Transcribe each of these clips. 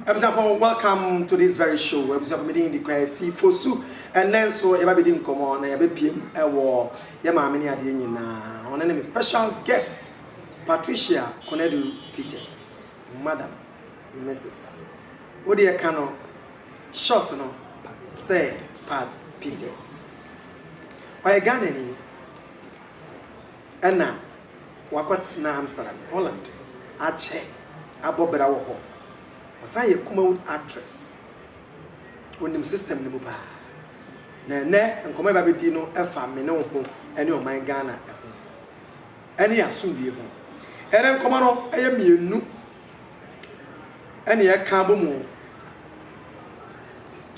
Abusuafo welcome to this very show abusuafo me din de Kwasi Fosu ɛnɛ nso yɛba bɛdi nkɔmɔ na yɛbɛpie mu ɛwɔ yɛ maame ne adeɛ nyinaa ɔno ne me special guest Patricia Konadu Peters madam Mrs wodeɛ ka no short no sɛ Pat Peters ɔyɛ Ghanani Ɛnna wakɔtena Amsterdam, Holland, akyɛ abɔ bra wɔ hɔ. Ɔsan yɛ Kumawood actress. Onim system no mu paa. Na ɛnnɛ nkɔmmɔ a yɛba abɛdi no fa me ne wo ho ne ɔman Ghana ho ne asomdwoeɛ ho. Ɛnɛ nkɔmmɔ no yɛ mmienu ɛne ɛka abɔ mu.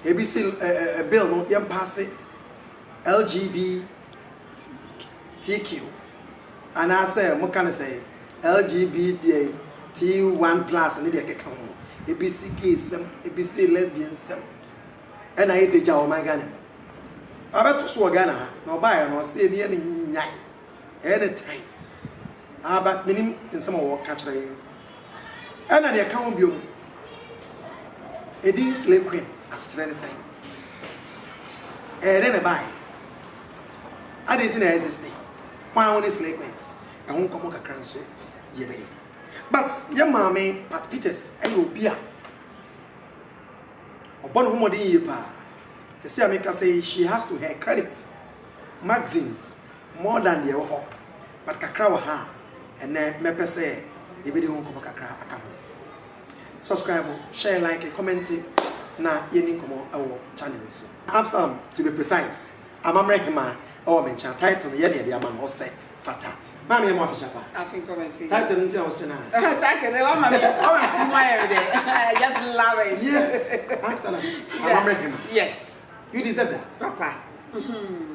Ebi si eh, eh, eh, bill no yɛmpaase LGB LGBTQ anaasɛ moka no sɛn, LGBTQ1 plus ne deɛ ɛkeka ho, ebi se gay nsɛm, ebi se lesbian nsɛm, ɛna ayɛ dagya wɔ ɔman Ghana mu. Wabɛto so wɔ Ghana ha, na ɔbaeɛ no ɔse ɛneɛ no nyae, ɛyɛ ne tan. Ah but menim nsɛm a wɔka kyerɛ yɛn. Ɛna nea ɛka ho biom, Edin Slay Queen asekyerɛ ne sɛn? Ɛyɛ dɛn na ɛbaeɛ? Adɛn nti na ɛexiste? Hwan wone Slay Queens? Ɛho nkɔmmɔ kakra nso yɛbɛdi. But yɛn maame Pat Peters ɛyɛ obi a ɔbɔ ne ho mmɔden yie paa. Sɛsɛ a meka sɛ yi, she has to her credit magazines More than deɛ ɛwɔ hɔ but kakra wɔ ha a ɛnɛ mɛpɛ sɛ yɛbɛdi ho nkɔmmɔ kakra aka ho. Subscribe, share, like, comment na yɛni nkɔmmɔ ɛwɔ channel yi so. Absalom to be precise, amammerɛ hemaa ɛwɔ me nkyɛn a title no yɛ deɛ de ama no hɔ sɛ fata. Maame yɛ mo afehyɛ pa. Afin committee. Title no nti na wɔsrɛ no a. Title no wama me ɔwɔ ti mu ayɛ me dɛ. I just love it. Yes. Absalom, amammerɛ hemaa. Yes. You deserve that. Papa. Mm-hmm.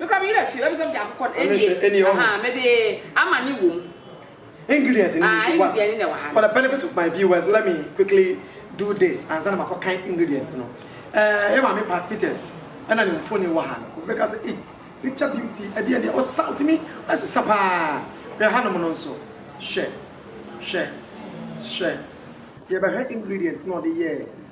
Me koraa me werɛ afii ɔyɛ me sɛ mede akokɔ no Ɛne hwɛ, ɛne ɛwɔ ahaa he? mede amane wom. Ingredient no Ah, nti was ingredient no na ɛwɔ ha for no. the benefit of my viewers let me quickly do this ansa na makɔ kan ingredient no. Eh, yɛ maame Pat Peters ɛna ne mfoni wɔ ha no. Obi bɛka sɛ ei picture beauty ɛdeɛ deɛ ɔsa ɔtumi ɛsesa paa. Hwɛ hanom no nso hwɛ hwɛ hwɛ. Yɛbɛhwɛ ingredient na ɔde yɛɛ.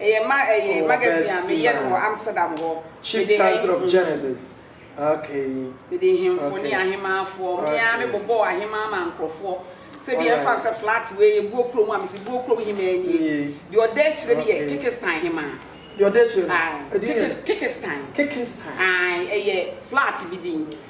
Ɛyɛ ma ɛyɛ magazine a meyɛ no wɔ Amsterdam hɔ. Mede ha yi hmm. Mede nhemfo ne ahemaafoɔ. Me ara me bobɔɔ ahemaa ma nkorɔfoɔ. Sɛ bi yɛn fa sɛ flat wei yɛ buo kurom a mesi buo kurom hemaa nie. Deɛ ɔda akyire no yɛ Kekistan hemaa. Deɛ ɔda akyire no. Kekistan. Kekistan. Ɛyɛ flat bi din.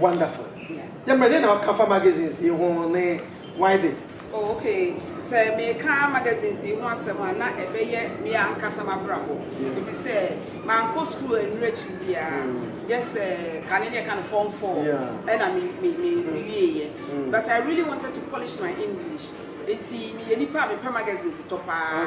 Wonderful. Yɛ ma dɛn na woka fa magazines yi ho ne why this? Oh ok, sɛ meka magazines yi ho asɛm a na ɛbɛyɛ me ankasa m'abrabɔ ɛfiri sɛ mankɔ sukuu annuru akyiri biara just eh, kane ne ɛka no form four ɛna me me me wieeɛ but I really wanted to polish my English nti meyɛ nipa a mepɛ magazines tɔ paa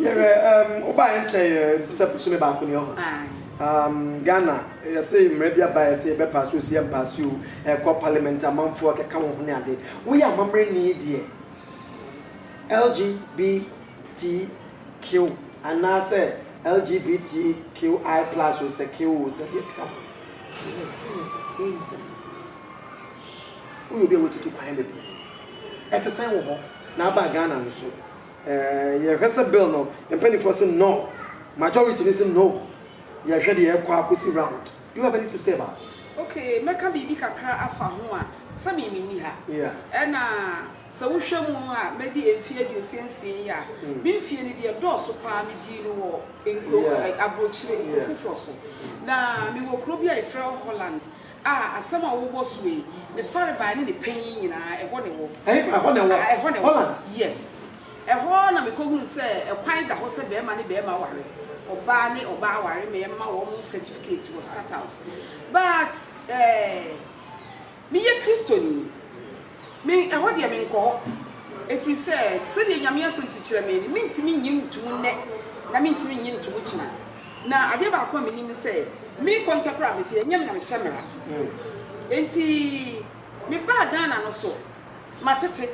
Yɛrɛ um, wobaeɛ nkyɛ yɛ bisa bosome baako ne ɔha. Um, Ghana, yɛse mmara bi abaeɛ sɛ yɛbɛpaase osi ɛmpaase o, ɛkɔ parliament amanfoɔ ɛkeka wɔn ho ne ade. Woyɛ amammerɛni deɛ, LGBTQ anaasɛ LGBTQI plus o, sɛ Q o, sɛ deɛ ɛkeka ho. Lesbianism, gayism, woyɛ obi a woatutu kwan bebree. Ɛte sɛn wɔ hɔ, na aba Ghana nso? Yɛhwɛ sɛ bill no mpaninfoɔ se no, majority no se no, yɛhwɛ deɛ ɛkɔ akosi round. Do you have anything to say about it? Okay, mɛka biribi kakra afa ho a, sɛ me menni ha. Yeah. Ɛna sɛ wohwɛ mu a madi mfeɛ aduosia nsia yi a, me mfeɛ no deɛ dɔɔso paa medii no wɔ nkuro, aburokyire, nkuro foforɔ so. Na mewɔ kuro bi a yɛfrɛ hɔ Holland. A Asɛm a wobɔ so yi, ne farebae ne ne panyin nyinaa, ɛhɔ na ɛwɔ. Ɛhefa? Ɛhɔ na ɛwɔ? A Ɛhɔ na ɛwɔ. Holland? Yes. Ɛhɔ na mekɔhunu sɛ ɛkwan da hɔ sɛ barima ne barima ware, ɔbaa ne ɔbaa ware ma yɛmma wɔn certificate wɔ Stadthaus. But, eh, meyɛ Kristoni. Me, ɛhɔ deɛ menkɔ hɔ, ɛfiri sɛ sɛdeɛ Nyame asɛm si kyerɛ me no, mentumi nnye nto mu nnɛ, na mentumi nnye nto mu kyena. Na adeɛ baako a menim ne sɛ, me kɔntɛ koraa mete, ɛnyɛ me na mehyɛ mmara. Enti mebaa Ghana no so, matete,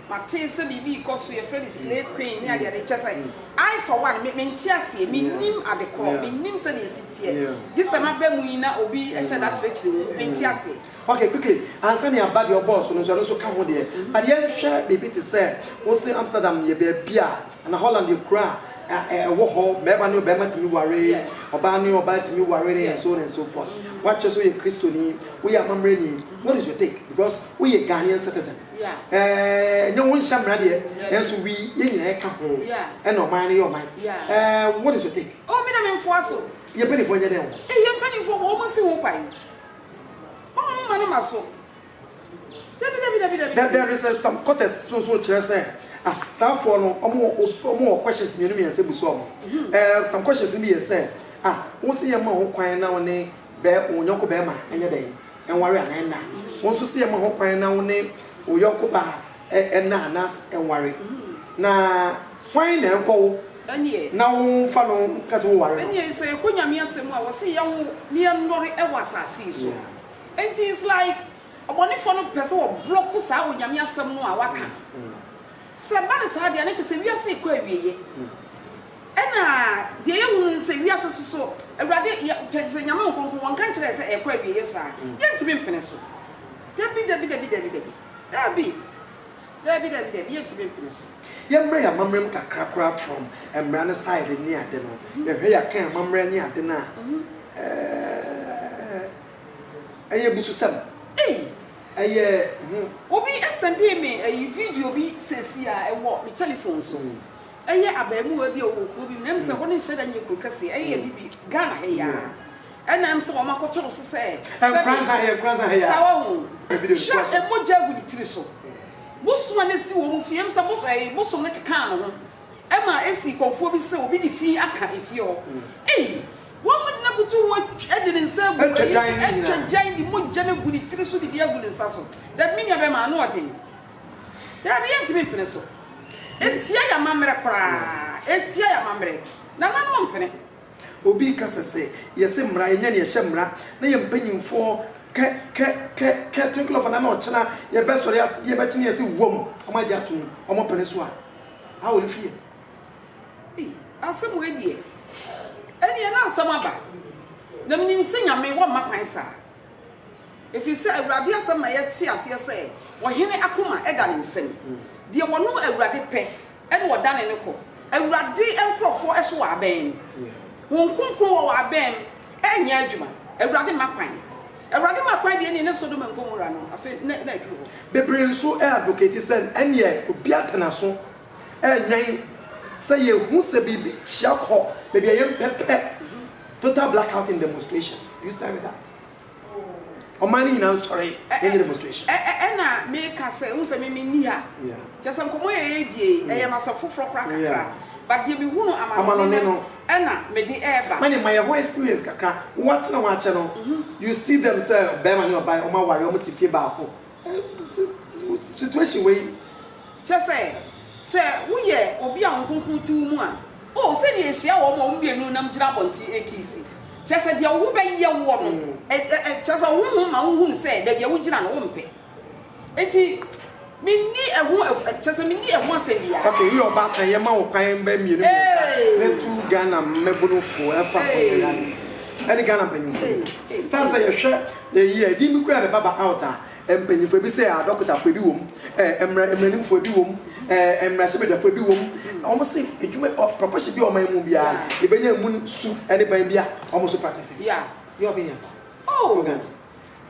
mate sɛ biribi rekɔ so, yɛfrɛ no slay queen ne adeade, kyerɛ sɛ, I for one, me, mente aseɛ, mennim ade korɔ, mennim sɛdeɛ ɛsi teɛ, gye sɛ maba mu yi na obi hyɛ da kyerɛkyerɛ mu, mente aseɛ. Okay okay ansa nea ba deɛ ɔbɔɔ so no nso ɛno nso ka ho deɛ but yɛnhwɛ biribi te sɛ wo se Amsterdam yɛ baabi a anaa Holland yɛ kuro a ɛwɔ hɔ barima ne ɔbarima tumi ware ɔbaa ne ɔbaa tumi ware ne and so on and so forth woakyɛ sɛ woyɛ kristoni woyɛ amammerɛni what is your take because woyɛ Ghanaian citizen ɛɛ nyɛ wonhyɛ mmara deɛ nanso we yɛn nyinaa ɛka ho ɛna ɔman no yɛ ɔman ɛɛ what is your take? Oh me na me mfoa so. Yɛn mpanyinfoɔ nyɛ dɛn wɔ hɔ? Yɛn mpanyinfoɔ wɔ wɔn si ho kwan. There is a some quarters no so kyerɛ sɛ ah saa foɔ no ɔmo wɔ ɔmo wɔ questions mmienu mmiɛnsa bu so ɔmo ɛɛ some questions no bi yɛ sɛ ah wo se yɛ ma ho kwan na wo ne bɛɛ wo nyɔnko bɛɛma ɛnyɛ dɛn ɛnware anaa ɛnna wo nso se yɛ ma ho kwan na wo ne wo yɔnko baa Ɛna a na ɛnware. Na hwan na ɛnkɔ wo na wo mfa no nka sɛ wo ware no? Ɛneɛ yi sɛ yɛkɔ Nyame asɛm a wɔse yɛnwo na yɛnnɔre wɔ asase yi so nti it's like ɔbɔnefoɔ no pɛ sɛ wɔ blɔko saa Onyame asɛm no a waka Sɛ ɛba no saa deɛ a na kyerɛ sɛ wiase rekɔ awieyɛ Ɛna deɛ yɛhunu no sɛ wiase so so Awurade kyerɛ sɛ Nyame Nkronkron wɔnka nkyerɛ yɛ sɛ ɛrekɔ awieyɛ saa Yɛntumi mpene so Dabi dabi dabi dabi dabi. Dabi! Dabi, dabi, dabi, yɛntumi mpene so. Yɛmmrɛ yɛn amammerɛ mu kakra koraa from mmara no side ne ade no, yɛhwɛ yɛakan amammerɛ ne ade no a, eh, ɛyɛ abususɛm. Ei! Ɛyɛ, ho. Obi sɛndee me ayi video bi seesei a, ɛwɔ me telephone so. Ɛyɛ abaamuwaa bi a ɔwɔ kuro bi mu, na ɛm sɛ hɔ no nhyɛ da nyɛ kuro kɛseɛ, ɛyɛ bibi, Ghana ha yi ara. Ɛna ɛm sɛ wɔn akoto no so sɛ sɛdeɛ saa wɔ ho. Hwɛ a mogya gu ne tiri so. Bosom a na ɛsi wɔn fie ɛm sɛ bosom no kekaa ne ho ɛma ɛsii kɔmfoɔ bi sɛ obi de fi aka efie hɔ. Ei! Wɔn de no abutu ho de ne nsa agu ɛyi so atwa gyan de mogya no agu ne tiri so de bi agu ne nsa so. Dabi me nua bɛrima ano ɔden. Dabi yɛntumi mpene so. Ɛtia yɛn amammerɛ koraa. Ɛtia yɛn amammerɛ. Nananom mpene. Obi rekasa sɛ, Yɛse mmra, yɛnyɛ nea ɛhyɛ mmra, na yɛn mpanyimfoɔ kɛ, kɛ, kɛ, kɛ, twinkle of an eye na ɔkyena yɛbɛsɔre a, deɛ ɛbɛkye no yɛse wom, wɔn agye atom, wɔn pene so a, how will you feel? Ei, asɛm wei deɛ, ɛnneɛ na asɛm aba, na menim sɛ Nyame, wɔmma kwan saa. Ɛfiri sɛ Awurade asɛm ma yɛte aseɛ sɛ, ɔhene akoma da ne nsam. Deɛ ɔno Awurade pɛ na ɔdane no kɔ. Awurade nkurɔfoɔ so wɔ abɛn mu. Wɔn kronkron wɔ wɔ abɛn mu reyɛ adwuma. Awurade mma kwan. Awurade mma kwan deɛ nie, ne Sodom and Gomorrah no, afei na na aduru hɔ. Bebree nso advocate sɛ ɛnneɛ obi ate n'aso rewɛn sɛ yɛhu sɛ biribi kyea kɔ baabi a yɛmpɛ pɛ. Total black out in demonstration do you sign with that ɔman no nyinaa nsɔre yɛnyɛ demonstration. Ɛna meka sɛ wohu sɛ me menni ha kyerɛ sɛ nkɔmmɔ yɛ yɛredie yi ɛyɛ no asɛm foforɔ koraa kakra but deɛ mehunu amanɔne no ɛna mede ɛreba. Manya ma yɛhɔ experience kakra wowatena hɔ akyɛ no you see them sɛ bɛrima ne ɔbaa wɔn aware wɔn te fie baako situation wei. Kyerɛ sɛ, sɛ woyɛ obi a Honhom Kronkron te wo mu a, oh, sɛnea ehyia wɔn a wɔn mmienu nam gyina abɔnten rekiisi! Kyerɛ sɛ, deɛ wo ho bɛyɛ woɔ no, ɛ, ɛ, ɛ, kyerɛ sɛ, wo honhom ma wohunu sɛ baabi a wogyina no, wompɛ. Enti, menni ɛho, ɛ, kyerɛ sɛ, menni ɛho asɛm biara. Okay, woyɛ ɔbaatan, yɛma wo kwan mbɛ mmienu mmiɛnsa Ee! na tu Ghana mmabunu foɔ ɛmfa kɔ Ee! Yɛn yare ɛne Ghana mpanyinfoɔ no. Ee! Ee! Sane sɛ yɛhwɛ Eyi a, din bi koraa bɛba ba out a, mpanyimfo, ebi sɛ adɔkotafo, ebi wom, ɛɛ, mmara, mmaranimfo, ebi wom, ɛɛ, mmarahyɛbadwafo, ebi wom, wɔse adwuma, ɔ, profession bi a wɔman mu biara ebenya emu su ne ban bi a wɔn nso practice. Yeah, deɛ ɔbɛnya. Oh,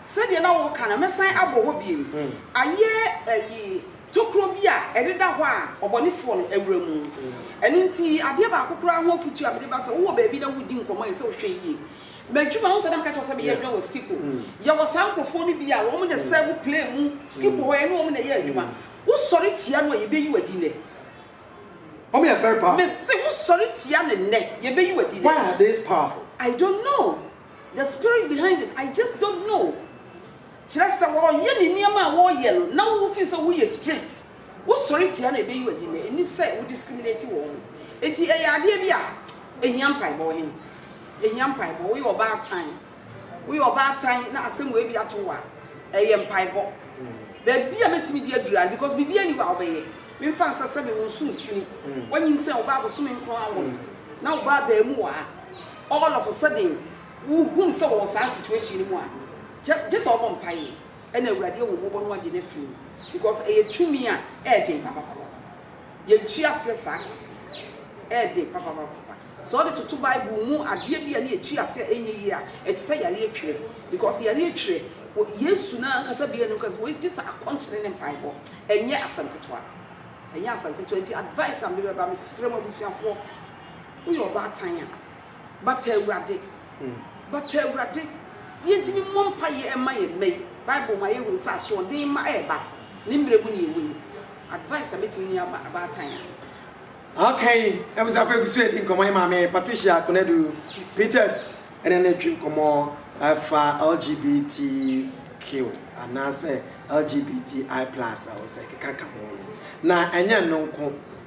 sɛdeɛ na woka no, mɛsan abɔ hɔ bio, ayɛ, ɛyi, tokuro bi a ɛdeda hɔ a ɔbɔnefoɔ no awura mu. Ɛno nti, adeɛ baako koraa ho afotuo a mede ba sɛ wowɔ baabi na woredi nkɔmmɔ a ɛsɛ sɛ wohwɛ yie. M'adwuma ho sɛ na meka kyerɛ sɛ meyɛ adwuma wɔ Skipo. Yɛwɔ saa nkurɔfoɔ no bi a wɔn na sɛɛvo plane mu Skipo hɔ, yɛne wɔn na yɛ adwuma. Wosɔre tia no a, yɛbɛyi wo adi nnɛ. Wɔn yɛ very powerful. Mese wosɔre tia no nnɛ, yɛbɛyi wo adi nnɛ. Why are they powerful? I don't know the spirit behind it, I just don't know. Kyerɛ sɛ wɔyɛ ne nneɛma a wɔyɛ no na wofill sɛ woyɛ straight. Wo sɔre tia no a ebeyi w'adi nnɛ nni sɛ wo discriminate wɔn ho. Enti ɛyɛ adeɛ bi a ehia mpaebɔ. Ɔhene, ehia mpaebɔ. Woyɛ ɔbaatan, woyɛ ɔbaatan na asɛm wei bi ato wo a, ɛyɛ mpaebɔ. Baabi a mɛtumi de adura no because biribiara nni hɔ a wobɛyɛ. Memfa nsɛ sɛ mewɔ nso nsini. Woanyinsɛn wo ba bosome nkron awo no na wo ba abarimuwaa all of a sudden wohunu sɛ wɔwɔ saa situation no mu a, gye sɛ wobɔ mpaeɛ. Ɛna Awurade ahummɔbɔ no agye no afiri mu because ɛyɛ tumi a ɛɛden papapapapa. Yɛnte aseɛ saa kakra yi, ɛɛden papapapapa. Sɛ ɔde toto Bible mu adeɛ bi a ne yɛte aseɛ a ɛnyɛ yie a, ɛte sɛ yareɛ twerɛ because yareɛ twerɛ, wɔ Yesu no ankasa bia no kasa wei gyesɛ akɔnkyene ne mpaebɔ, ɛnyɛ asɛm ketewa, ɛnyɛ asɛm ketewa, nti advice a mede bɛba, mesrɛ mo abusuafoɔ, woyɛ ɔbaatan a, bata Awurade. But Awurade, deɛ nti memmɔ mpaeɛ mma yɛn mma yi? Bible ma yɛhunu sɛ asoɔden mma ɛreba. Ne mmerɛ mu na yɛwɔ yi. Advice a mɛtumi ne abaatan a. Aka yi, abusuafo egu so redi nkɔmmɔ. Yɛn maame Patricia Konadu Peters ne no retwe nkɔmmɔ afa LGBTQ anaasɛ LGBTI plus a ɔsɛ ɛkeka ka ho no. Na ɛnyɛ ɛno nko,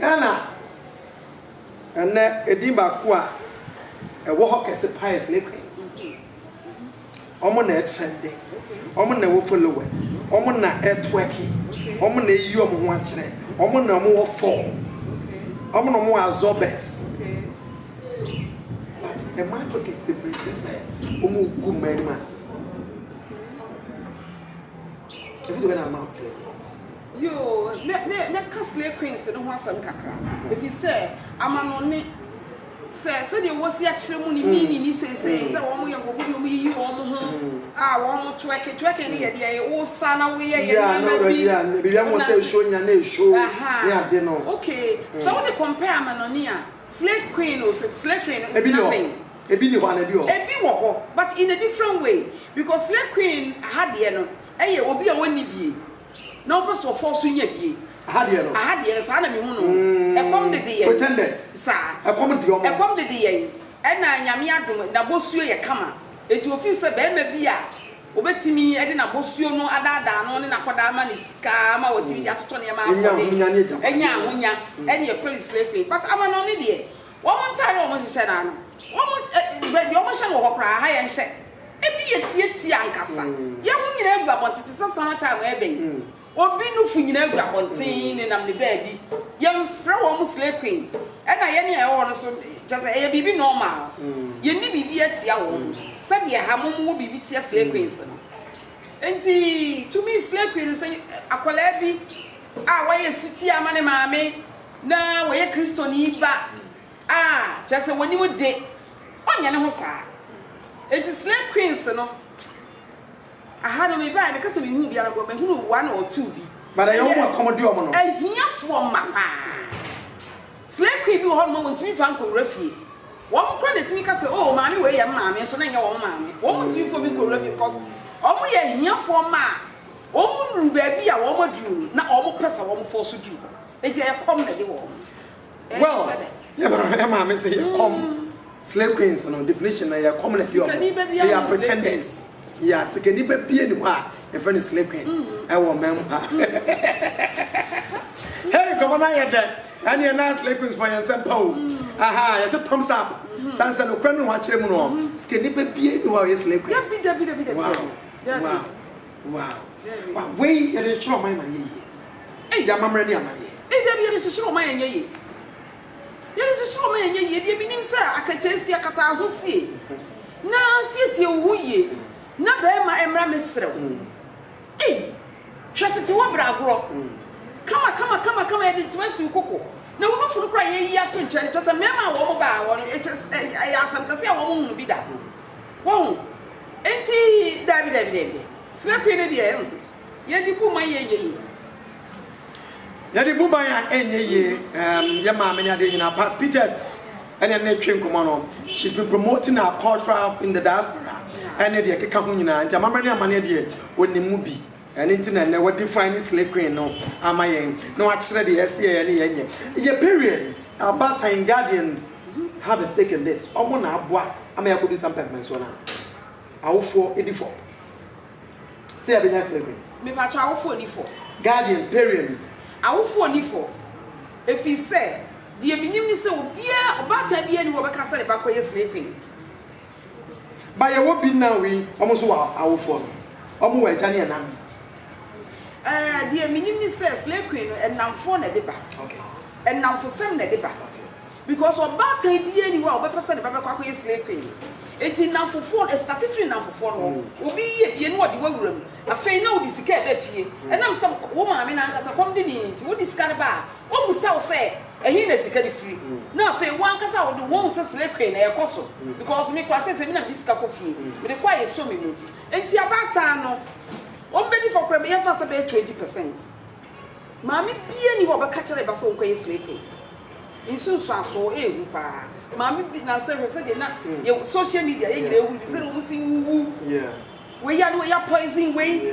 Ghana ɛnnɛ edin baako a ɛwɔ hɔ kɛse paa yɛ Slay Queens. Wɔn na ɛtrɛnde, wɔn na ɛwɔ followers, wɔn na ɛtwerke, wɔn na eyi wɔn ho akyerɛ, wɔn na wɔn wɔ form, wɔn na wɔn wɔ absorbers. But ɛma advocates bebree hu sɛ wɔn regu mmaa anim ase. Yoo, mɛ, mɛ, mɛka Slay Queens no ho asɛm kakra, ɛfiri sɛ, amanɔne, sɛ, sɛdeɛ wɔsi akyerɛ mu ne meaning ne seesei, sɛ wɔn yɛ nkorɔfoɔ bi a wɔyiyi wɔn ho, a wɔn twerking, twerking no yɛ deɛ wosa na woyɛ yɛ nneɛma bi, wonante, aha, okay, sɛ wode compare amanɔne a, Slay Queen no, Slay Queen no is nothing. Ebi nni hɔ anaa ebi wɔ hɔ? Ebi wɔ hɔ but in a different way because slay queen aha deɛ no ɛyɛ obi a ɔnni bie na ɔpɛ sɛ ɔfɔɔ so nya bie. Aha deɛ no? Aha deɛ no saa na mehu no o. Ɛkɔm dede yɛn. Pretenders. Saa. Ɛkɔm de wɔn. Ɛkɔm dede yɛn ɛna Nyame adom n'abɔsuo yɛ kama enti ɔfeel sɛ barima bi a ɔbɛtumi de n'abɔsuo no adaadaa no ne no akɔdaa ama no sika ama watumi de atotɔ nneɛma akɔ de anya ahonya ɛne yɛfrɛ no slay queen but amanɔne deɛ Wɔn ntaade a wɔhyehyɛ no ano, wɔn ɛ, baabi a wɔhyɛ no wɔ hɔ koraa, ha yɛn hyɛ. Ebi yɛ tiatia ankasa. Yɛn ho nyinaa gu abɔnten te sɛ summer time a ɛreba yi. Obi nufo nyinaa gu abɔnten nenam ne baabi. Yɛmfrɛ wɔn slay queen. Ɛna yɛn a yɛwɔ hɔ no nso, kyerɛ sɛ, ɛyɛ biribi normal. Yenni biribi atia wɔn, sɛdeɛ ha mo mowɔ biribi tia slay queens no. Enti, tumi slay queen no sɛ akwadaa bi a wayɛ sotie ama ne maame. Na wɔyɛ Kristoni ba a, kyerɛ sɛ wɔnni wo de, ɔnyɛ ne ho saa. Enti Slay Queens no, aha no mebaeɛ meka sɛ menhunu biara nko, mahunu one or two bi. But ɛyɛ wɔn a ɛkɔm de wɔn no. Ahiafoɔ mma paa. Slay Queen bi wɔ hɔ nom a wɔntumi mfa nkɔwura fie. Wɔn koraa na ɛtumi ka sɛ, oh maame wei yɛ me maame nso na ɛnyɛ wɔn maame. Wɔn ntumi mfa obi nkɔwura fie because wɔn yɛ ahiafoɔ mma a wɔn nnuru baabi a wɔn aduru no na wɔn pɛ sɛ wɔn force duru hɔ. Enti ɛyɛ kɔm na de wɔ hɔ. Well, yɛ maame sɛ yɛ kɔm. Slay queens no definition na yɛ kɔm na de wɔ hɔ. They are pretenders. Yeah, sikani ba bie ni hɔ a yɛfrɛ no slay queen. Ɛwɔ mmaa mu ha. Hey, nkɔmɔ na yɛ dɛ. Ɛne yɛ na slay queens fɔ yɛn nsɛm pa o. Aha, yɛ sɛ thumbs up. San sɛ no kura no ho akyerɛ mu no. Sikani ba bie ni hɔ a yɛ slay queen. Dabi, dabi, dabi, dabi. Wow, wow. Wow wow wei yɛde kyekyere ɔman ma no yɛ yie ei amammerɛ ne amaneɛ. Ei dabi yɛde kyekyere ɔman ɛnyɛ yie yɛde kyekyere ɔman ɛnyɛ yie deɛ menim sɛ akataasia kataa ho sie na siesie wo ho yie na bɛɛma ɛmmra mesrɛ wo ei hwɛ tete wɔ bra agorɔ kama kama kama kama yɛde ntoma si wo koko na wo nufunu kora yɛyi ato nkyɛn kyɛ sɛ mɛɛma a wɔn baa hɔ no ɛkyɛ ɛyɛ asɛm kɛse a wɔn hunu bi da wɔn Enti, daabi, daabi, daabi. Sinapui no deɛ, ɛnho. Yɛde bu ma yɛnyɛ yie. Yɛde bu ma yɛn ɛnyɛ yie. Um, yɛ maame ne adeɛ nyinaa. Pat Peters ɛne ne twe nkɔmɔ no. She's been promoting our cultural in the diaspora. Ɛne deɛ ɛkeka ho nyinaa. Nti amammerɛ ne amaneɛ deɛ, ɔnim mu bi. Ɛno nti na ɛnnɛ wa define slay queen no ama yɛn na wakyerɛ deɛ ɛsɛ yɛyɛ ne yɛnyɛ. Yɛ parents, abaatan, guardians have a stake in this. Wɔn na aboa ama yɛakɔduru saa mpɛmpɛnsoɔ no ano. Awofoɔ di fɔ sɛ yɛbɛnya slay queens. Mepakyɛ awofoɔ nni fɔ? Guardians, parents. Awofoɔ nni fɔ ɛfiri sɛ deɛ menim ne sɛ obiara, ɔbaatan biara nni hɔ a ɔbɛka sɛ ne ba kɔyɛ slay queen. But yɛwɔ bi now yi, wɔn nso wɔ awofoɔ no. Wɔn wɔ agya ne ɛna nom. Eh, deɛ menim ne sɛ slay queen no ɛnamfoɔ na ɛde ba. Okay. Ɛnamfosɛm na ɛde ba. Okay. Because ɔbaatan biara nni hɔ a ɔbɛpɛ sɛ ne ba bɛkɔ akɔyɛ slay queen. Enti nnamfofoɔ no, ɛstate firi nnamfofoɔ no hɔ. Obi yɛ bie na ɔde wo awura mu. Afei na wode sika ɛba fie. Ɛnam sɛ wo maame no ankasa kɔm de no nti, wode sika no ba a, ɔmmisa wo sɛ Ɛhe na sika no firi? Na afei wo ankasa wo de wo hu sɛ slay queen na ɛkɔ so because me koraa seesei me na mede sika kɔ fie mede kɔ a yɛsɔ me mu nti abaatan no wɔn bɛdi fɔ koraa yɛmfa sɛ bɛyɛ twenty percent maame bia ni hɔ ɔbɛka kyerɛ ba sɛ wo kɔyɛ slay queen nsunsuasoɔ ɛɛhu paa maame bi nansa hwɛ sɛdeɛ na yɛ social media yɛ nyina ɛhu de sɛdeɛ wɔn si wuwu wei yɛ de wɔyɛ poison wei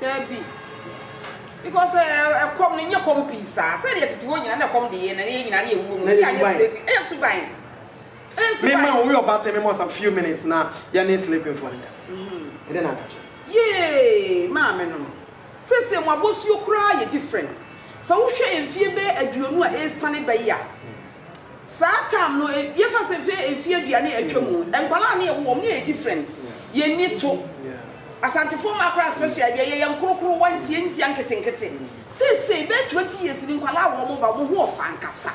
Dabi, because ɛkɔm no nyɛ kɔm pii saa. Sɛdeɛ tete hɔ nyinaa na ɛkɔm de yɛn na yɛn nyinaa na yɛwuo mu. Sɛ anyɛ slave, ɛyɛ suban. Ɛyɛ suban. Me ma wo yɛ ɔbaatan me ma some few minutes na yɛn ne slave foɔ no kasa. Ɛdɛ na aka kyerɛ. Yee, maame no no. Seesei mo abosuo koraa yɛ different. Sɛ wohwɛ mfie bɛyɛ aduonu a ɛresane ba yi a, Saa term no yɛfa sɛ fɛ ɛfi adua ne atwa mu nkwadaa ne yɛwo wɔn ne yɛ different yɛn ni to asantefoɔ mmaa koraa special deɛ yɛyɛ nkorokorowa ntia ntia nketenkete seesei bɛɛ 20 years ni nkwadaa wɔ wɔn ba wɔn ho ɔfa ankasa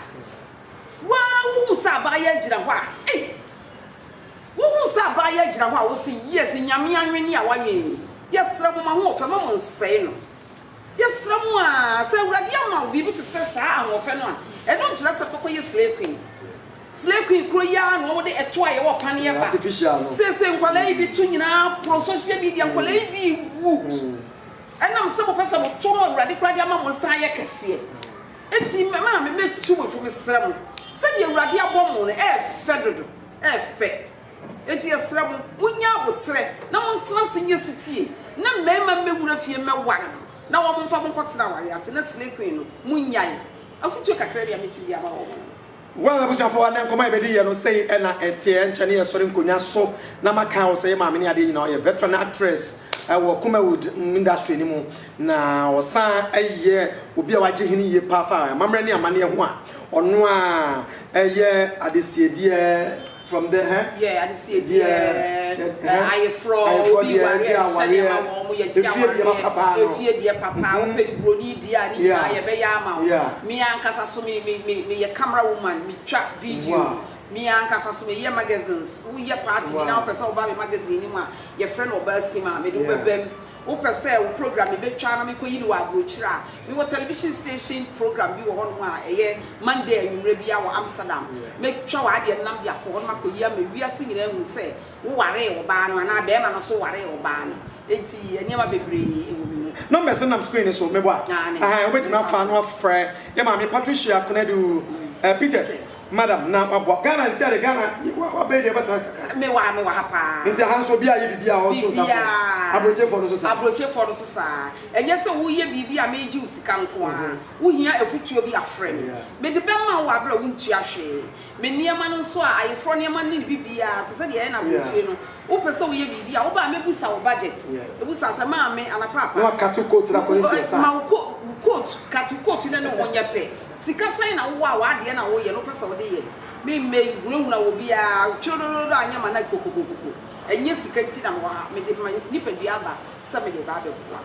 waa wohu sɛ abaayewa gyina hɔ a ei wohu sɛ abaayewa gyina hɔ a wo se yes nyame anwene a wanwene ni yɛsrɛ mo ma ho ɔfɛ ma mo nsɛe no Yɛsrɛ mo aa, sɛ Awurade ama wo biribi te sɛ saa ahoɔfɛ no a, ɛno nkyerɛ sɛ fa kɔyɛ slay queen. Slay queen korɔ yi ara na wɔn de ɛtoɔ a yɛwɔ paneɛ ba. Seesei nkwadaa yi bi to nyinaa poro social media, nkwadaa yi bi wu ɛnam sɛ mopɛ sɛ moto no Awurade koraa de ama mo nsa ayɛ kɛseɛ. Enti me maame mɛtu mo fo, mesrɛ mo, sɛdeɛ Awurade abɔ mo no, ɛyɛ fɛ dodo, ɛyɛ fɛ. Enti yɛsrɛ mo, monyɛ aboterɛ na montena ase nyɛ setie, na mmarima mmɛwura fie mmɛware mo, na wɔmfa mo nkɔtena awareɛ ase, na slay queen no, monnyae. Afotuo kakra bi a mɛtumi de ama wɔn no. Wo a m'abusuafoɔ, ɛnnɛ nkɔmmɔ a yɛbɛdi yɛ no, sei na ɛteɛ, ɛnkyɛ ne yɛsɔre nkonnwa so na makae wo sɛ yɛ maame ne adeɛ nyinaa, ɔyɛ veteran actress wɔ Kumawood industry no mu, na ɔsan yɛ obi a wagye hene yie paa fa amammerɛ ne amanneɛ ho a ɔno ara yɛ adesiedeɛ. From the hɛ. Yɛ adesie deɛ ɛ ayeforɔ obi wareɛ sɛdeɛ ma wɔn mo yɛgye awareɛ efie deɛ papa wopɛ ni broni deɛ a ne nyinaa yɛbɛyɛ ama wo me ankasa so me me me meyɛ camera woman metwa video me ankasa so meyɛ magazines woyɛ party bi na wopɛ sɛ woba me magazine no mu a yɛfrɛ no ɔbaa sim a mede wo bɛbam Wopɛ sɛ wo program yi bɛtwa na mekɔyi no wɔ aburokyire a, mewɔ television station program bi wɔ hɔnom a ɛyɛ Monday anwummerɛ biara wɔ Amsterdam. Mɛtwa w'adeɛ no na mede akɔ hɔnom akɔyi ama wiase nyinaa ahunu sɛ wowaree ɔbaa no anaa barima no nso waree ɔbaa no. Enti nneɛma bebree wɔ me mu. Numbers no nam screen no so, meboa? Aane. Aane, wobɛtumi afa ano afrɛ yɛn maame Patricia Konadu Peters. Madam na waboa Ghana nti ade Ghana wabɛyi deɛ ɛbɛtra kakra. Me wɔ ha me wɔ ha paa. Nti ha nso obi ayɛ biribi a ɔnto nsa frɛ wo. Abrokyefoɔ no nso saa. Abrokyefoɔ no nso saa. Ɛnyɛ sɛ woyɛ biribi a megye wo sika nko ara. Wo hia afutuo bi a frɛ me. Mede bɛma wo wɔ aberɛ a wo ntua hwee. Me nneɛma no nso a ayeforɔ nneɛma ne ne biribiara te sɛ deɛ ɛyɛ no abrokyire no wo pɛ sɛ wo yɛ biribi a wo ba a mɛ busa wo budget. Mɛ busa sɛ maame anaa paapa. Na wa cut wo coat no akɔ ne ntua saa. Ma wo coat cut wo coat no ne ho nyɛ pɛ. Sika sɛn na wowɔ a w'adeɛ na woyɛ na wopɛ sɛ wode yɛ? Memmɛ nhunahuna obiara kyorodoododo a nyɛ m'anan kokokokoko. Ɛnyɛ sika nti na mewɔ ha, mede me nipadua aba sɛ mede reba abɛboa.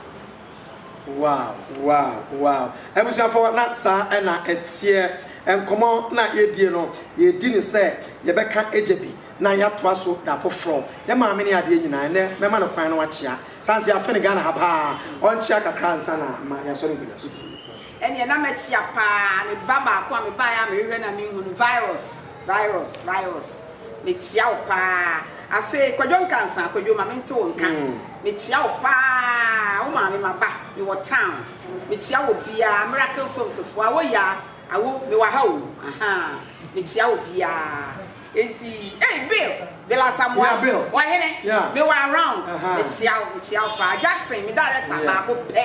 Wow wow wow abusuafoɔ na saa na ɛteɛ nkɔmmɔ na yɛdie no yɛredi no sɛ yɛbɛka gya bi na yɛatoa so da foforɔ yɛ maame ne adeɛ nyinaa ɛnnɛ mɛma no kwan na wakyea saa nso yɛafe no Ghana ha paa ɔnkyea kakra ansa na ma yɛasɔre nkonyasoɔ bio. Ɛneɛ na mɛkyea paa me ba baako a mebaeɛ a mehwehwɛ na menhu no virus virus virus mekyea wo paa afei kwadwo nkansa kwadwo ma mente wo nka mekyea wo paa wo maame maba mewɔ town mekyea wɔ biaa miracle films foɔ awo yaa awo mewɔ ha o ahaa mekyea wɔ biaa enti ei bill bill asamoa ɔhene mewɔ around mekyea wo mekyea wo paa jackson me director baako pɛ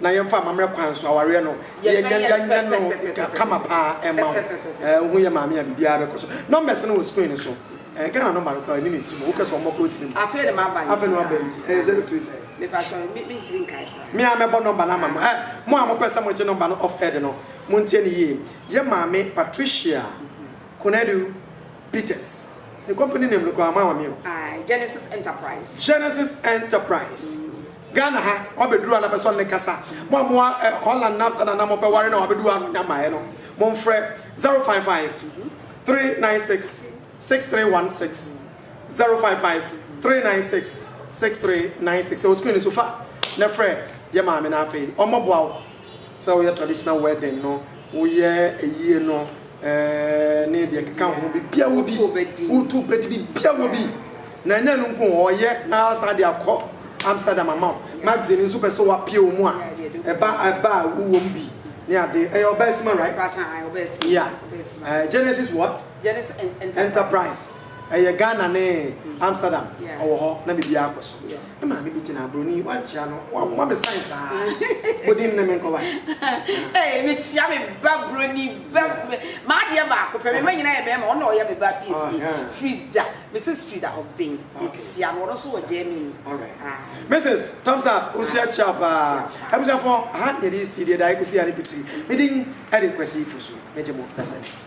Na yɛmfa amammerɛ kwan so awareɛ no yɛnyɛ no kama paa ɛma wo wohu yɛ maame a biribiara bɛkɔ so. Numbers no wɔ screen no so. Ghana number no koraa ɛni ne tirim. Wokɛ sɛ ɔmmɔ koraa ɔtumi mmɔ. Afei na maba nti. Afei na waba nti. Ɛyɛ zero three sɛn? Mepatwɔ mentumi nkae koraa. Me a mɛbɔ number no ama mo. Ɛ mo a mopɛ sɛ mogye number no off air de no montie no yie. Yɛ maame Patricia Konadu Peters. Ne company name no koraa moama me o. Aye Genesis Enterprise. Genesis Enterprise. Ghana ha wabɛduru a na pɛsɛ ɔne kasa. Mo a moa eh, Holland na Amsterdam na mopɛ ware na wabɛduru a na ɔnya mmaeɛ no, momfrɛ 055 396 6316 055 396 6396 ɛwɔ screen no so fa na frɛ yɛ maame na afei ɔmmɔboa wo. sɛ woyɛ traditional wedding no woyɛ ayie no ɛɛ ne deɛ keka ho bibia wɔ bi wotu bɛdi bibia wɔ bi na ɛnyɛ no nko ɔyɛ na asan de akɔ Amsterdam ama wo magazine nso pɛ sɛ wapie wɔ mu a ɛba ɛba a wowɔ mu bi ne ade ɛyɛ ɔbaa sima right yeah uh, Genesis what Genesis Enterprise. Ɛyɛ Ghana ne Amsterdam ɔwɔ hɔ na biribiara akɔ so. Me maame bi gyina aburoni wankyia no wabɔ me sign saa bodi nne me nkɔ wa. Ee me kyia me ba buroni ba m'adeɛ baako pɛ me ma nyina yɛ mɛma ɔno na ɔyɛ me ba piesie ah, Frida Mrs Frida Obeng me kyia no ɔno nso wɔ Germany. Mrs thumbs up nso yɛ kyia paa abusuafo aha yɛde si deɛ da ekosi yɛ ne pitiri me din ɛde kwasi fo so me gye mo dasani.